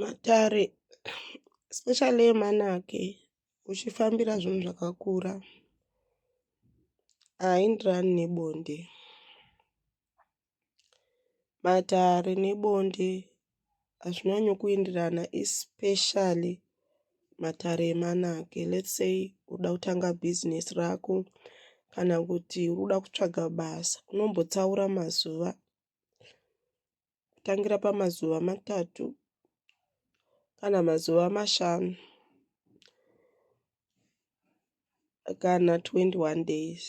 Matare especially emanake uchifambira zvinhu zvakakura haindirani nebonde. Matare nebonde hazvinyanyo kuindirana especially matare emanake lets say uda kutanga business rako kana kuti uda kutsvaga basa unombotsaura mazuva kutangira pamazuva matatu kana mazuva mashanu kana 21 days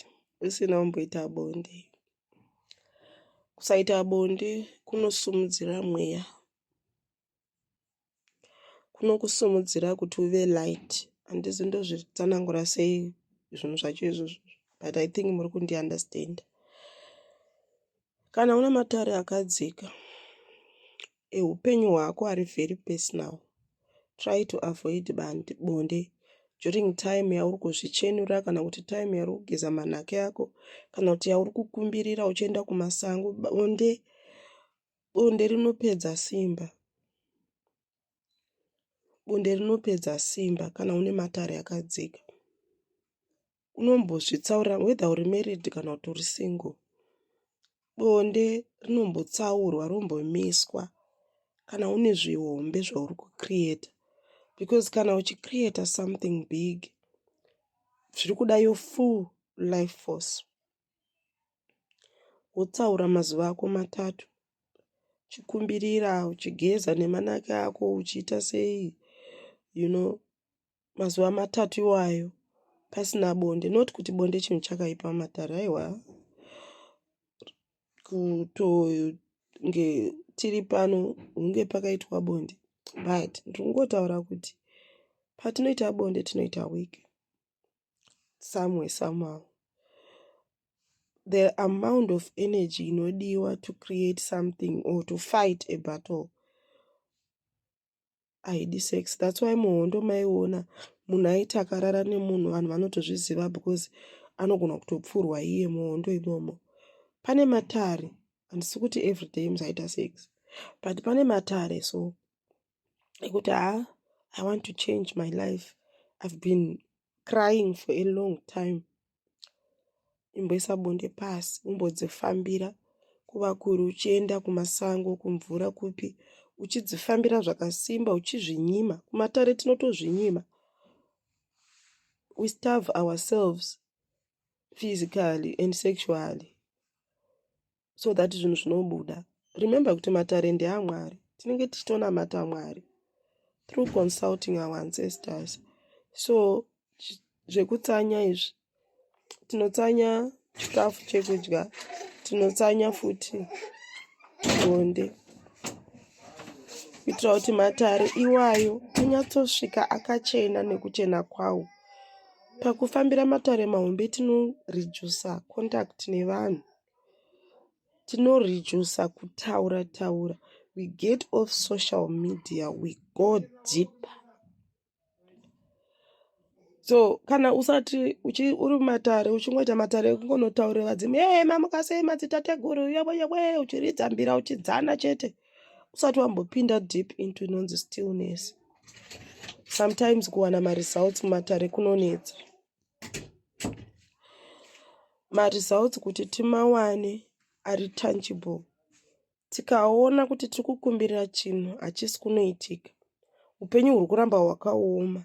usina kumboita bonde kusaita bonde kunosimudzira mweya Kunokusimudzira kuti uve light. Handizi ndozvitsanangura sei zvinhu zvacho izvozvo but I think muri kundi understander. Kana una matare akadzika ehupenyu hwako ari very personal. Try to avoid bandi, bonde during time yauri kuzvichenura kana kuti time yauri kugeza manhake ako kana kuti yauri kukumbirira uchienda kumasango bonde Bonde rinopedza simba. Bonde rinopedza simba kana une matare akadzika. Unombozvitsaura whether uri married kana kuti uri single. Bonde rinombotsaurwa rombomiswa kana une zvihombe zvauri kucreata because kana uchicreata something big zviri kuda your full life force wotsaura mazuva ako matatu uchikumbirira uchigeza nemanake ako uchiita sei you know mazuva matatu iwayo pasina bonde not kuti bonde chinhu chakaipa matare aiwa kutonge tiri pano hunge pakaitwa bonde but ndiri kungotaura kuti patinoita bonde tinoita wiki somewhere somehow the amount of energy inodiwa to create something or to fight a battle haidi sex thats why muhondo maiona munhu aiti akarara nemunhu vanhu vanotozviziva because anogona kutopfurwa iye muhondo imomo pane matare handisi kuti everyday mzaita sex but pane matare so ekuti haa i want to change my life i've been crying for a long time imboisa bonde pasi umbodzifambira kuva kuri uchienda kumasango kumvura kupi uchidzifambira zvakasimba uchizvinyima kumatare tinotozvinyima we starve ourselves physically and sexually so that zvinhu zvinobuda remember kuti matare ndeamwari tinenge tichitonamata mwari through consulting our ancestors so zvekutsanya izvi tinotsanya chikafu chekudya tinotsanya futi bonde kuitira kuti matare iwayo anyatsosvika akachena nekuchena kwawo pakufambira matare mahombe tinoredusa contact nevanhu tinoreducer kutaura taura we get off social media we go deep so kana usati uri matare uchingoita matare ekungonotaurira vadzimu ee mamukasei madzitateguru yewe yewe uchiridza mbira uchidzana chete usati wambopinda deep into inonzi stillness sometimes kuwana maresults mumatare kunonetsa maresults kuti timawane ari tangible tikaona kuti tiri kukumbirira chinhu hachisi kunoitika upenyu huri kuramba hwakaoma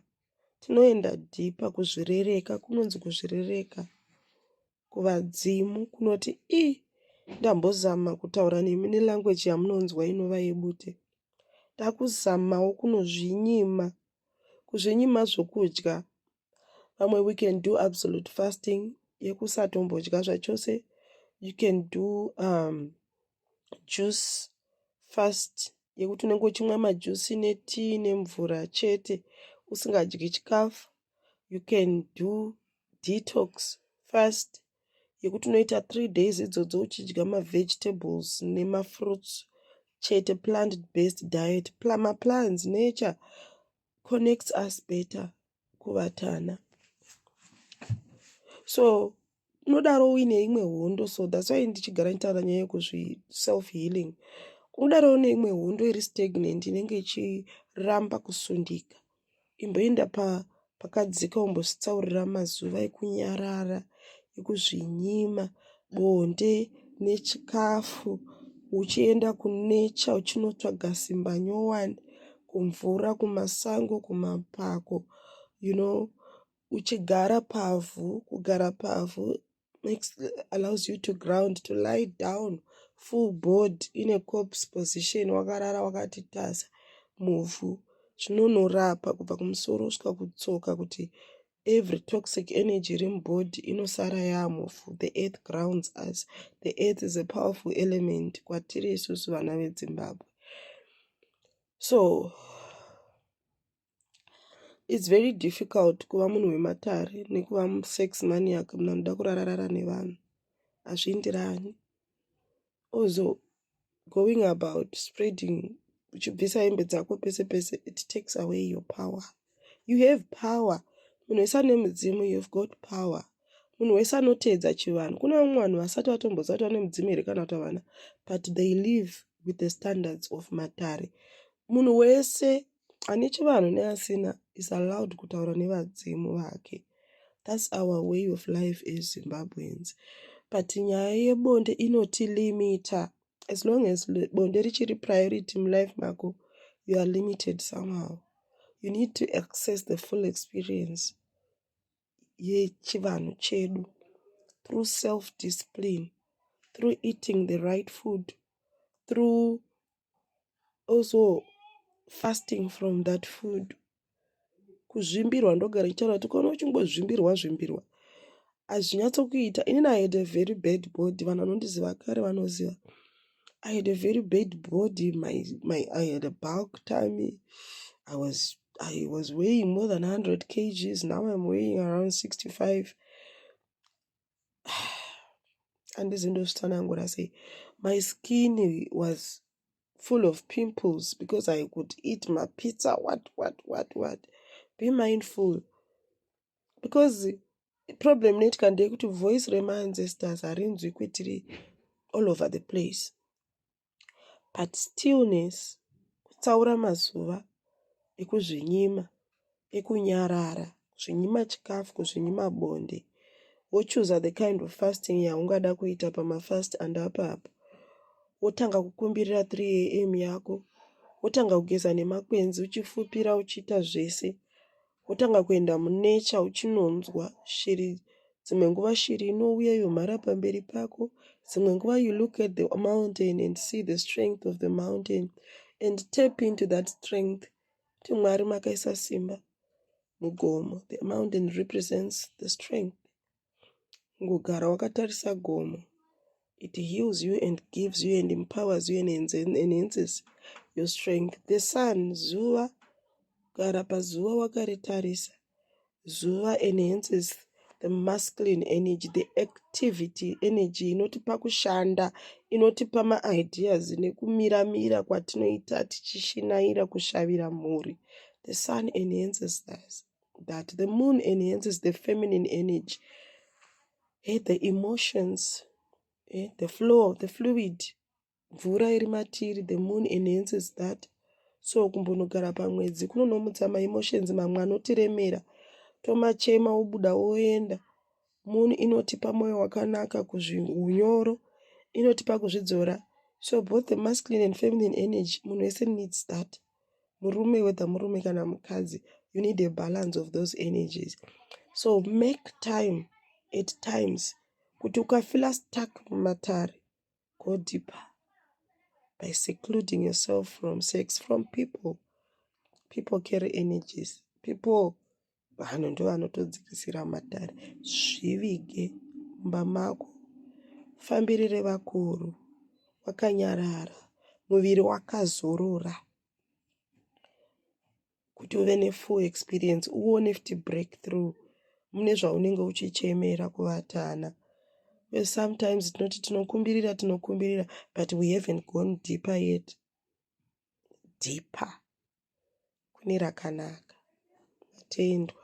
tinoenda dhipa kuzvirereka kunonzi kuzvirereka kuvadzimu kunoti i ndambozama kutaura nemi nelanguage yamunonzwa inova yebute takuzamawo kunozvinyima kuzvinyima zvokudya vamwe we can do absolute fasting yekusatombodya zvachose you can do um, juice fast yekuti unenge uchimwa majusi netii nemvura chete usingadyi chikafu you can do detox fast yekuti unoita three days idzodzo uchidya mavegetables nemafruits chete plant based diet maplants nature connects us better kuvatana so unodaro uine imwe hondo so thats why ndichigara nditaura nyaya yekuzvi self healing unodaro une imwe hondo iri stagnant inenge ichiramba kusundika imboenda pa pakadzika umbositsaurira mazuva ekunyarara ekuzvinyima bonde nechikafu uchienda kunecha uchinotsvaga simba nyowani kumvura kumasango kumapako you know uchigara pavhu kugara pavhu makes allows you to ground to lie down full board in a corpse position wakarara wakati tasa muvhu zvinonorapa kubva kumusoro kusvika kutsoka kuti every toxic energy iri mubody inosara yaamufu the earth grounds us the earth is a powerful element kwatiri isusu vana vedzimbabwe so its very difficult kuva munhu wematare nekuva sex maniak munhu anoda kurararara nevanhu hazviindirani ozo going about spreading uchibvisa hembe dzako pese pese it takes away your power you have power munhu wese ane mudzimu you've got power munhu wese anoteedza chivanhu kune vamwe vanhu vasati vatomboziva kuti vane mudzimu here kana kuti havana but they live with the standards of matare munhu wese Ane chivanhu neasina is allowed kutaura nevadzimu vake. That's our way of life as Zimbabweans. But nyaya yebonde inotilimita. As long as bonde richiri priority mulife mako, you are limited somehow. You need to access the full experience yechivanhu chedu through self-discipline, through eating the right food, through also fasting from that food kuzvimbirwa ndogara ichitaura kuti ukaona uchingozvimbirwa zvimbirwa hazvinyatsokuita inini i had a very bad body vanhu vanondiziva kare vanoziva i had a very bad body my, my, i had a bulk time i was i was weighing more than 100 kgs now im weighing around 65 andizi ndozvitsanangura sei my skin was full of pimples because i could eat mapizza what what what what be mindful because problem neitika ndeyekuti voice remaancestors harinzwi kwetiri all over the place but stillness kutsaura mazuva ekuzvinyima ekunyarara kuzvinyima chikafu kuzvinyima bonde wochuza the kind of fasting yaungada kuita pamafast andapa apo wotanga kukumbirira 3 am yako wotanga kugeza nemakwenzi uchifupira uchiita zvese wotanga kuenda munecha uchinonzwa shiri dzimwe nguva shiri inouya yomhara pamberi pako dzimwe nguva you look at the mountain and see the strength of the mountain and tap into that strength kuti mwari makaisa simba mugomo the mountain represents the strength kungogara wakatarisa gomo it heals you and gives you and empowers you and enhances your strength the sun zuva kugara pazuva wakaritarisa zuva enhances the masculine energy the activity energy inotipa kushanda inotipa maideas nekumiramira kwatinoita tichishinaira kushavira mhuri the sun enhances us that the moon enhances the feminine energy hey, the emotions hey, the flow the fluid mvura iri matiri the moon enhances that so kumbonogara pamwedzi kunonomutsa maemotions mamwe anotiremera tomachema obuda oenda moon inotipa mwoyo wakanaka kuzviunyoro inotipa kuzvidzora so both the masculine and feminine energy munhu wese needs that murume whether murume kana mukadzi you need a balance of those energies so make time at times kuti ukafila stuck mumatare go deeper by secluding yourself from sex from people people carry energies people vanhu ndovanotodzikisira matare zvivige mumba mako fambirire vakuru wakanyarara muviri wakazorora kuti uve nefull experience uone futi breakthrough mune zvaunenge uchichemera kuvatana sometimes tinoti tinokumbirira tinokumbirira but we haven't gone deeper yet deeper kune rakanaka. Matendwa.